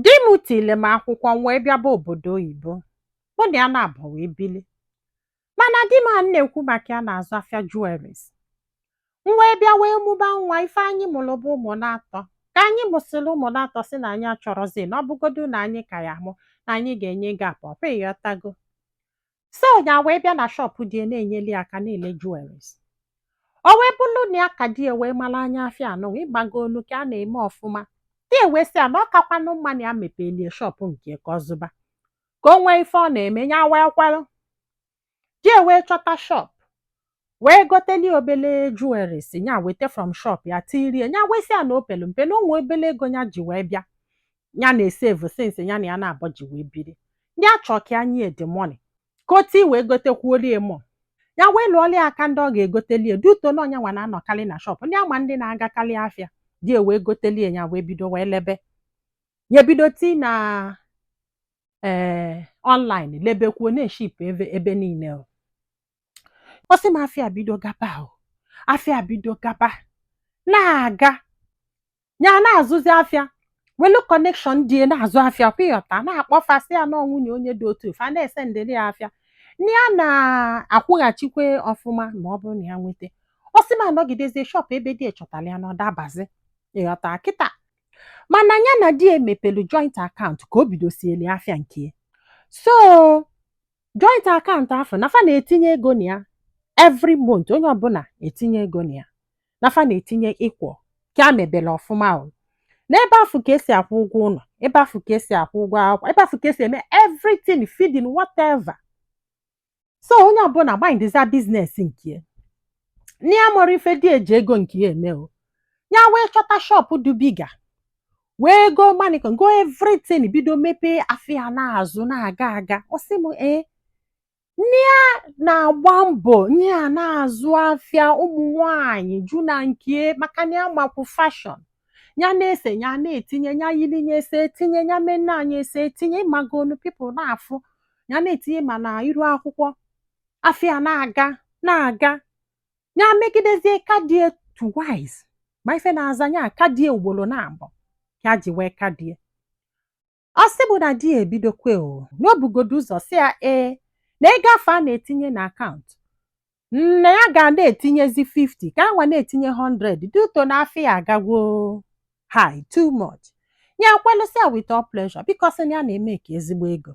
Di m tili m akwụkwọ m wee bịaba obodo oyibo. Mụ na ya naabọ wee bili. Mana di m a na-ekwu maka ya na-azụ afịa jewelries. M wee bịa wee mụba nwa ife anyị mụrụ bụ ụmụ naatọ. Ka anyị mụsịrị ụmụ naatọ sị na anyị achọrọzi na ọ bụgodu na anyị ka ya-amụ na anyị ga-enye gap ọkwa ị ghọtago. so ya wee bịa na shọpụ di ya na-enyeli ya aka na-ele jewelries o wee bụrụ na ya ka di ya wee mara anya afịa now ị magonu ka a na-eme ọfụma di ya wee sị ya na ọ kakwanụ mma na ya mepelie shọpụ nke ka ọ zụba ka o nwee ife ọ na-eme ya wee kwelụ di ya wee chọta shọpụ wee goteli obele jewelries nya weta from shop ya tirie nya wee sị ya na o pelu mpe na o nwe obele ego nya ji wee bịa ya na-esevu since ya na ya naabọ ji wee biri ya chọọ ka ya nye ya the money ka o tii wee gotekwuolie more ya wee lụọlie aka ndị ọ ga-egotelie due to na ọ nya nwa na-anọkarị na shọp nya ama ndị na-agakarị afịa di wee gotelie ya wee bido wee lebe ya ebido tii na ee online lebekwuo na-eship ebe ebe niile o. ọ sị m afịa bido gaba o afịa bido gaba na-aga ya na-azụzi afịa welu connection di e na-azụ afịa ọkwa ị ghọta na-akpọ fa sị ya na nwunye onye dị otu fa na-esendịrị ya afịa na ya na-akwụghachikwa ọfụma ma ọ bụrụ na ya nweta ọ sị m anọgidezie shọpụ ebe di chọtara ya na ọ dabazi ị ghọta kịta mana ya na di emepelu joint akaụntụ ka o bidosieli afịa nke ya so joint akaụntụ afụ na fa na-etinye ego na ya every month onye ọbụla etinye ego na ya na fa na-etinye equal ka a mebere ọfụma o n'ebe afụ ka esi akwụ ụgwọ ụlọ ebe afụ ka esi akwụ ụgwọ akwụkwọ ebe afụ ka esi eme everything feeding whatever so onye ọbụla mindizia business nke ya na ya amarọ ife di e ji ego nke ya eme o ya wee chọta shọpụ dị bigger wee go mannequin go everything bido mepee afịa na-azụ na-aga aga ọ sị m ee na ya na-agba mbọ nya na-azụ afịa ụmụ nwanyị ju na nke maka na ya makwu fashion ya na-ese ya na-etinye ya yiri ya ese etinye ya menne nya ese etinye ị magonu people na-afụ ya na-etinye ma na iru akwụkwọ afịa na-aga na-aga ya megidezie ka di e twice ma ife na-aza ya ka di e ugboro naabọ ka ji wee ka di e ọ sị bụ na di ya ebidokwe o na o bugodu ụzọ sị ya ee na ego afụ a na-etinye na akaụntụ na ya ga na-etinyezi 50 ka ya nwa na-etinye 100 due to na afịa ya agagwo high too much ya kwelụ sị ya with all pleasure because na ya na-emake ezigbo ego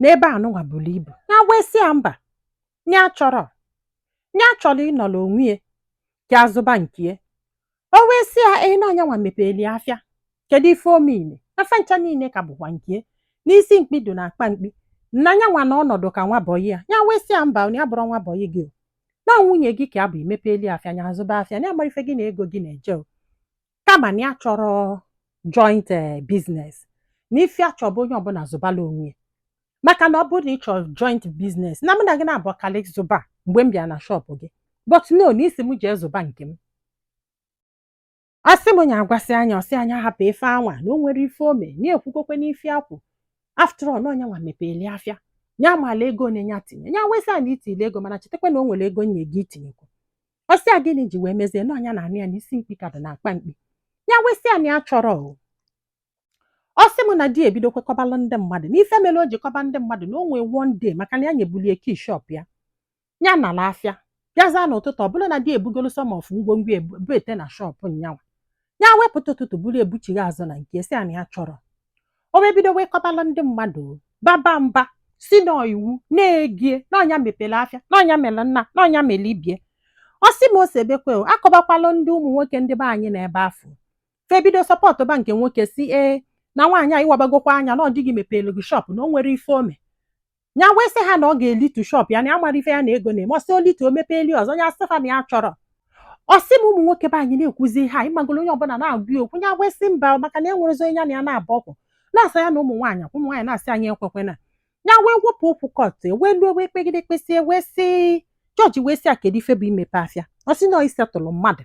n'ebe anụnwa buru ibu ya wee sị ya mba ya achọrọ ya chọrọ ịnọrọ onwe ya ya azụba nke ya o wee sị ya ee na ọ nyanwa mepeli afịa kedu ife o mele afịa ncha niile ka bụkwa nke ya na isi mkpi dị na akpa mkpi na nyanwa na ọ nọdụ ka nwa bọyị ya ya wee sị ya mba ya abụrọ nwa bọyị gị o na nwunye gị ka a bụ i mepeli afịa ya azụba afịa ya amara ife gị na ego gị na-eje o kama na ya achọrọ joint eh, business na ife a chọ bụ onye ọbụla zụbala onwe ya maka na ọ bụrụ na ị chọrọ joint business na mụ na gị nabọ kalị zụba mgbe m bịara na shọpụ gị but no na ị sị m jee zụba nke m ọ sị m nya agwasịa nya ọ sị nya hapụ ife anwa na o nwere ife o me na-ekwukokwe n'ife akwụ after all na ọ nyanwa mepeli afịa nya amala ego one nya tinye nya wee sị a na i tile ego mana chetakwa na o nwere ego nye gị i tinyekwu ọ sị ya gịnị ji wee mezie na ọ nya na-anụ ya na isi mkpi ka dị na akpa mkpi ya wee sị ya na ya achọrọ o ọ sị m na di e bidokwe kọbalụ ndị mmadụ n'ife mere o ji kọba ndị mmadụ na o nwee one day maka na ya nyebuli e kii shop ya ya nala afịa bịaza n'ụtụtụ ọ bụrụ na di ebugolo some of ngwongwo e bubete na shop nyanwa ya wee pụta ụtụtụ buru e buchigha azụ na nke sị na ya achọrọ o wee bido wee kọbalụ ndị mmadụ baba mba sị na iwu na-egie na ọ nya mepere afịa na ọ nya mere nnaa na ọ nya mere ibie ọ sị m ose bekwe o akọbakwalụ ndị ụmụ nwoke ndị be anyị na ebe afụ fa ebido sọpọtụba nke nwoke sị ee na nwaanyị a ị wabagokwa anya na ọ di gị mepere gị shọpụ na o nwere ife o me ya wee sị ha na ọ ga-elitu shọp ya na ya amara ife ya na ego na-eme ọ sị o litu o mepeeli ọzọ ya sị fa na ya achọrọ ọ sị m ụmụ nwoke be anyị na-ekwuzi ha ị magolo onye ọbụla na-agwa ya okwu ya wee sị mba maka na enwerọzi onye ya na ya na-abụ ọkwụ na-asa ya na ụmụ nwaanyị akwụ ụmụ nwaanyị na-asị anyị ekwekwena ya wee wepụ okwu kọt wee luo wee kpegide kpesịa wee sị jọji wee sị ya kedu ife bụ imepe afịa ọ sị na isetụlụ mmadụ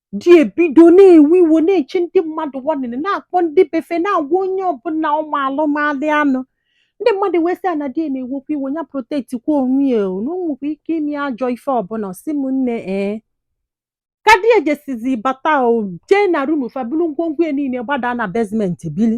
di ebido na-ewe iwo na-eche ndị mmadụ warning na-akpọ ndị be fe na-agwa onye ọbụla ụmụ alụmalị anụ ndị mmadụ wee sị ya na di e na-ewekwa iwo ya protect kwa onwe ya o na o nwekwa ike ime ajọ ife ọbụla ọ sị m nne ee ka di ejesizi bata o jee na rum fa buru ngwongwo ya niile gbadaa na basement bili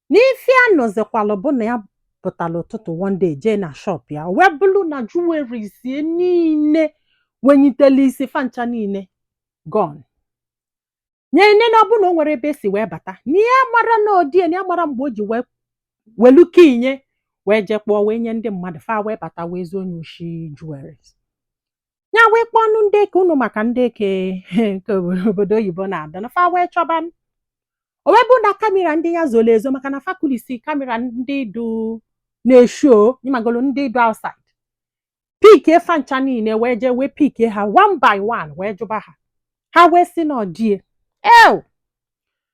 n'ife ya nọzikwalụ bụ na ya pụtara ụtụtụ one day jee na shop ya o wee bụrụ na jewelries ya niile wenyitele isi fa ncha niile gone nye nne na ọ bụ na o nwere ebe e si wee bata na ya mara na ọ di e na ya mara mgbe o ji wee welu kii nye wee jee kpọọ wee nye ndị mmadụ fa wee bata wee zuo nye oshi jewelries ya wee kpọọnụ ndị eke unu maka ndị eke nke obodo- obodo oyibo na-ada na fa wee chọba o wee bụ na kamera ndị ya zoro ezo maka na fa kulisi kamera ndị du na-esho ị magolo ndị du outside pikie fa ncha niile wee jee wee pikie ha one by one wee jụba ha ha wee sị na ọ di e ew